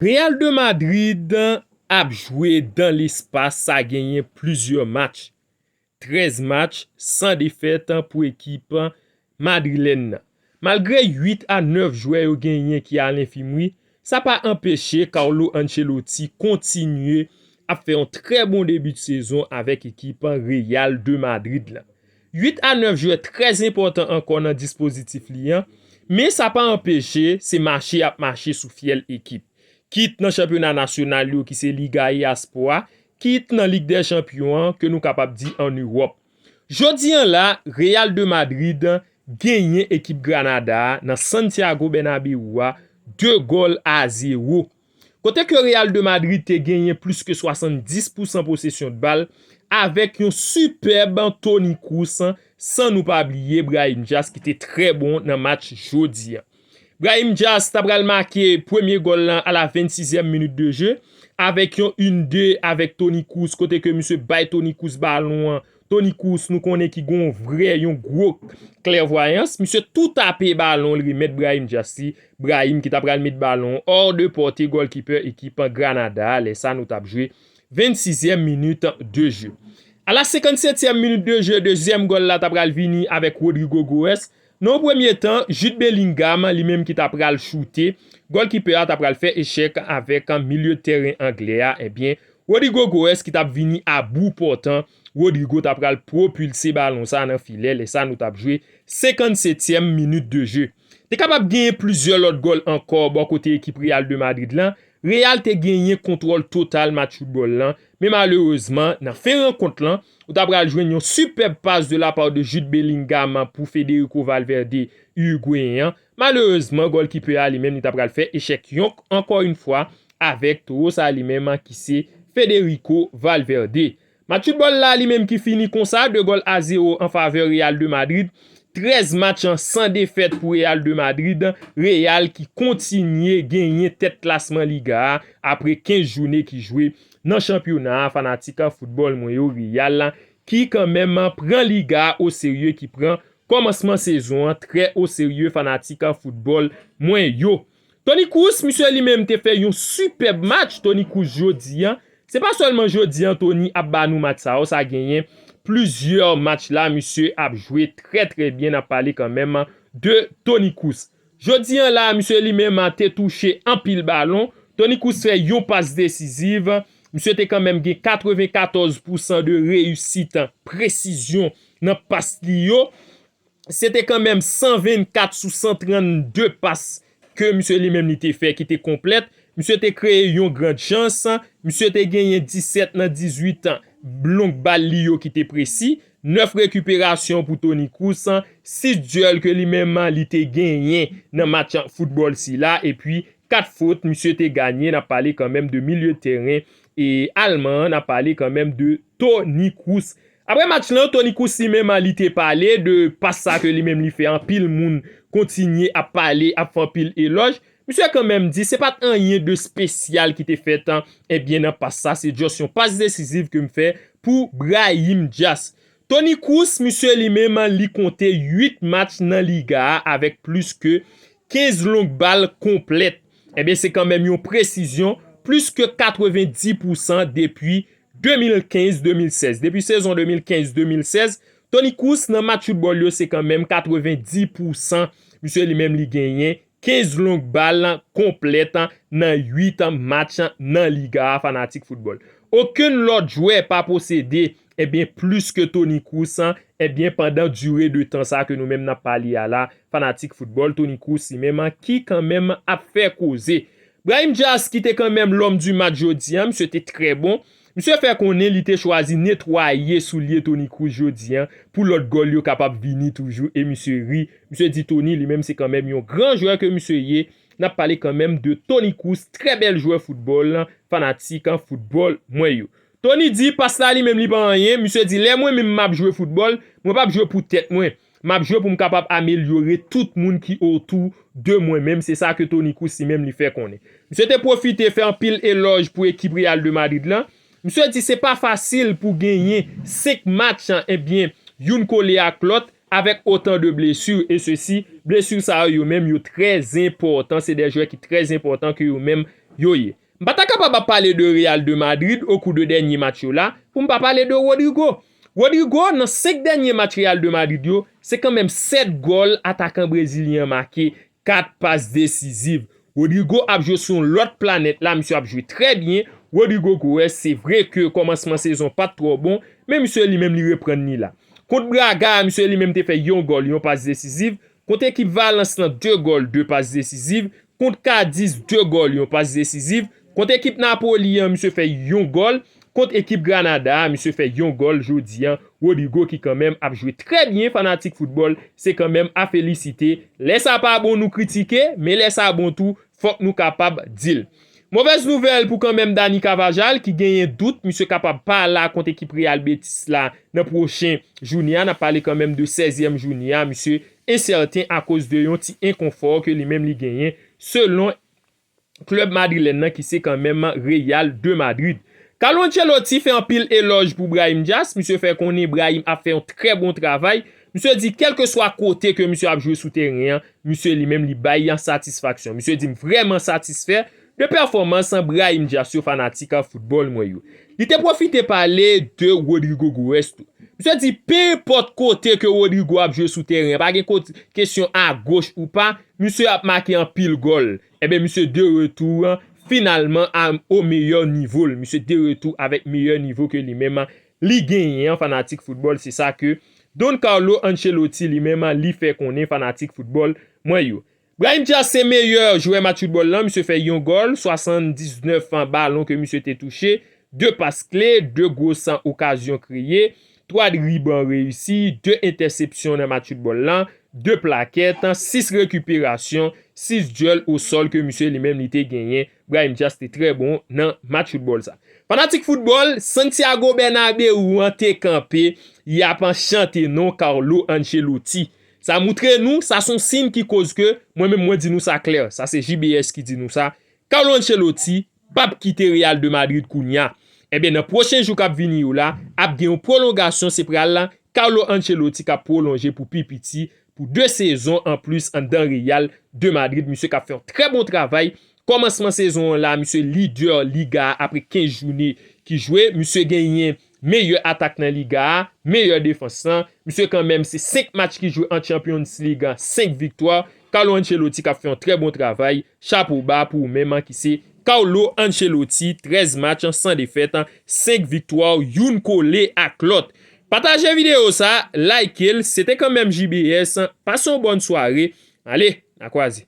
Real de Madrid ap jwe dan lespas sa genyen plizyè match, 13 match san defèt pou ekip madrilèn nan. Malgre 8 a 9 jwè yo genyen ki a lenfimri, sa pa anpeche Carlo Ancelotti kontinye ap fè yon trè bon debi de sezon avèk ekip Real de Madrid la. 8 a 9 jwè trè enpòtan ankò nan dispozitif li an, men sa pa anpeche se mache y ap mache sou fyèl ekip. Kit nan chanpyona nasyonal yo ki se Liga e Aspo a, kit nan Lig dè Chanpyon an ke nou kapab di an Ewòp. Jodi an la, Real de Madrid genyen ekip Granada a nan Santiago Bernabeu a 2 gòl a 0. kote ke Real de Madrid te genyen plis ke 70 pousan posesyon de bal avèk yon sipèb Toni Kroos san nou pa bliye Brahim Diaz ki te trè bon nan match jodi a. Brahim Diaz ta pral make premye gòl lan a la 26 zièm minit de je avèk yon 1 2 avèk Toni Kroos kote ke misye bay Toni Kroos balon an Toni Kroos nou konnen ki gen yon vrè, yon gwo klèvwayans, misye tou tape balon li remèt Brahim Diaz li, Brahim ki ta pral met balon an hors de portée gòlkipè ekip Granada a, lè sa nou tap jwe 26 èm minit de jeu. A la 57 èm minit de jeu, dezyèm gòl la ta pral vini avèk Rodrygo Goes, Nan yon premye tan, Jude Bellingham, li menm ki ta pral choute, gòlkipè a ta pral fè echèk avèk milye tèren anglè a, ebyen Rodrygo Goes ki t ap vini a bou pòtan, Rodrygo ta pral pwopilse balon sa nan filè, lè sa nou t ap jwe 57 tièm minit de je. Te kapab genyen plizyè lòt gòl ankò bò kote ekip Real de Madrid lan, Real te genyen kontwòl total match foutbòl lan, Men malerezman, nan fen rankont lan, ou ta pral jwenn yon sipèb pas de la part de Jude Bellingham pou Federico Valverde, Urugweyen an. Malerezman, gòlkipè a li menm li ta pral fè echèk yonk ankò yon fwa avèk towo sa li menm ki se Federico Valverde. Match foutbòl la li menm ki fini konsa, 2 gòl a 0 an favè Real de Madrid. 13 match an san defèt pou Real de Madrid, Real ki kontinye genyen tèt klasman Liga a apre 15 joune ki jwe nan chanpyona a fanatik foutbòl mwen yo Real ki kanmenm pran Liga a oserye ki pran kòmansman sezon an trè oserye fanatik foutbòl mwen yo. Toni Kroos misye li menm te fè yon sipèb match Toni Kroos jodi an se pa sèlman jodi an Toni ap ba nou match sa o sa genyen plizyè match la misye ap jwe trè trè byen nap pale kanmenm de Toni Kroos jodi an la misye li menm te touche anpil balon Toni Kroos fè yon pas desiziv misye te kanmenm gen 94 pousan de reyisit presizyon nan pas li yo. se te kanmenm 124 sou 132 pas ke misye li menm li te fè ki te konplèt, misye te kreye yon grand chans, misye te genyen 17 nan 18 long bal li yo ki te presi, 9 rekiperasyon pou Toni Kroos, 6 dyèl ke li menm li te genyen nan match foutbòl sila, epi 4 fot misye te ganye, n ap pale kanmenm de milye tèren alman an, n ap pale kanmenm de Toni Kroos. Aprè match lan, Toni Kroos li menm li te pale de pas sa ke li menm li fè anpil moun kontinye ap pale, ap fè anpil elòj. Misye kan menm di se pat anyen de spesyal ki te fèt ebyen nan pas sa, se just yon pas desiziv ke m fè pou Brahim Dias. Toni Kroos misye li menm li konte 8 match nan Liga a avèk plis ke 15 long bal konplèt. Ebyen se kan menm yon presizyon plis ke 90 pousan depi 2015-2016, Depi sezon 2015-2016, Toni Kroos nan match foutbòl yo se kanmenm 90 pou san misye li menm li genyen 15 long bal konplèt nan 8 match nan Liga a fanatik foutbòl. Okenn lòt jwè pa posede ebyen plis ke Toni Kroos ebyen pandan dire de tan sa ke nou menm nap pale a la fanatik foutbòl Toni Kroos li menm ki kanmenm ap fè koze. Brahim Diaz ki te kanmenm l'homme du match jodi an, misye te trè bon. Misye fè konnen li te chwazi netwaye soulye Toni Kroos jodi an pou lòt gòl yo kapab vini toujou e misye ri. Misye di Toni li menm se kanmenm yon gran jwè ke misye ye. Nap pale kanmenm de Toni Kroos, trè bèl jwè foutbòl, fanatik foutbòl mwen yo. Toni di pas la li menm li pa anyen, misye di lè mwen menm map jwe foutbòl, mwen pap jwe pou tèt mwen. Map jwe pou m kapab amelyore tout moun ki otou de mwen menm, se sa ke Toni Kroos li menm li fè konnen. Misye te pwofite fè anpil elòj pou ekip Real de Madrid lan. Misye di se pa fasil pou genyen 5 match ebyen youn kole ak lòt avèk otan de blesu e sesi, blesu sa yo yo menm yo trè zenpòtan, se de jwè ki trè zenpòtan ke yo menm yo ye. M pa ta kapab ap pale de Real de Madrid okou de dènye match yo la pou m pa pale de Rodrygo. Rodrygo nan 5 dènye match Real de Madrid yo, se kanmenm 7 gòl atakan brezilyen an make, 4 pas desiziv. Rodrygo ap jwe sou yon lòt planèt la, misye ap jwe trè byen, Rodrygo Goes se vre ke kòmansman sezon pat twò bon, men misye li menm li reprann li la. Kont Braga a misye li menm te fè yon gòl, yon pas desiziv, kont ekip Valence lan 2 gòl, 2 pas desiziv, Kont Cadiz 2 gòl yon pas desiziv, kont ekip Napoli an misye fè yon gòl, kont ekip Granada a misye fè yon gòl jodi an, Rodrygo ki kanmenm ap jwe trè byen fanatik foutbòl se kanmenm a felisite, lè sa pa bon nou kritike men lè sa bon tou fòk nou kapab di l. Movèz nouvèl pou kanmenm Dani Carvajal ki genyen dout misye kapab pa la kont ekip Real Betis la nan pwochen joune a, n ap pale kanmenm de 16 ème joune a misye ensèten akoz de yon ti enkonfò ke li menm li genyen selon klèb madrilèn nan ki se kanmenm Real de Madrid. Carlo Ancelotti fè anpil elòj pou Brahim Diaz, misye fè konnen Brahim ap fè yon trè bon travay, misye di kèlkeswa kote ke misye ap jwe sou tèren an, misye li menm li bay satisfaksyon. Misye di m vrèman satisfè de pèfòmans Brahim Dias yo fanatik foutbòl mwen yo. Li te pwofite pale de Rodrygo Goes tou. Misye di pe enpòt kote ke Rodrygo ap jwe sou teren an, pa gen kesyon a goch ou pa, misye ap make anpil gòl. Enben misye de retou finalman a o meyè nivo l, misye de retou avèk meyè nivo ke li menm li genyen an fanatik foutbòl se sa ke Don Carlo Ancelotti li menm li fè konnen fanatik foutbòl mwen yo. Brahim Diaz se meyè jwè match foutbòl lan, misye fè yon gòl, 79 balon ke misye te touche, 2 pas kle, 2 gwo san okazyon kreye, 3 driban reyisi, 2 entèsepsyon nan match foutbòl lan, 2 plakèt, 6 rekiperasyon, 6 dyèl o sòl ke misye li menm li te genyen, Brahim Diaz te trè bon nan match foutbòl sa. Fanatik foutbòl Santiago Bernabeu an te kanpe, y ap chante non Carlo Ancelotti, Sa moutre nou, sa son siyn ki koz ke, mwen menm mwen di nou sa klè, sa se JBS ki di nou sa, Carlo Ancelotti pap kite Real de Madrid kounya. Enben nan pwochen jou kap vini yo la, ap gen yon pwolongasyon se pral Carlo Ancelotti kap pwolonje pou pi piti pou 2 sezon an plis anndan Real de Madrid, misye kap fè yon trè bon travay, kòmansman sezon an la misye lidè liga a apre 15 joune ki jwe, misye genyen. Meyè atak nan Liga a, meyè defans lan, misye kanmenm se 5 match ki jwe an Champions League an 5 viktwa, Carlo Ancelotti kap fè yon trè bon travay, chapo ba pou ou menm an ki se Carlo Ancelotti 13 match san defèt, 5 viktwa youn kole ak lòt. Pataje video sa, like l, se te kanmenm JBS, pase yon bòn sware, ale, na kwaze.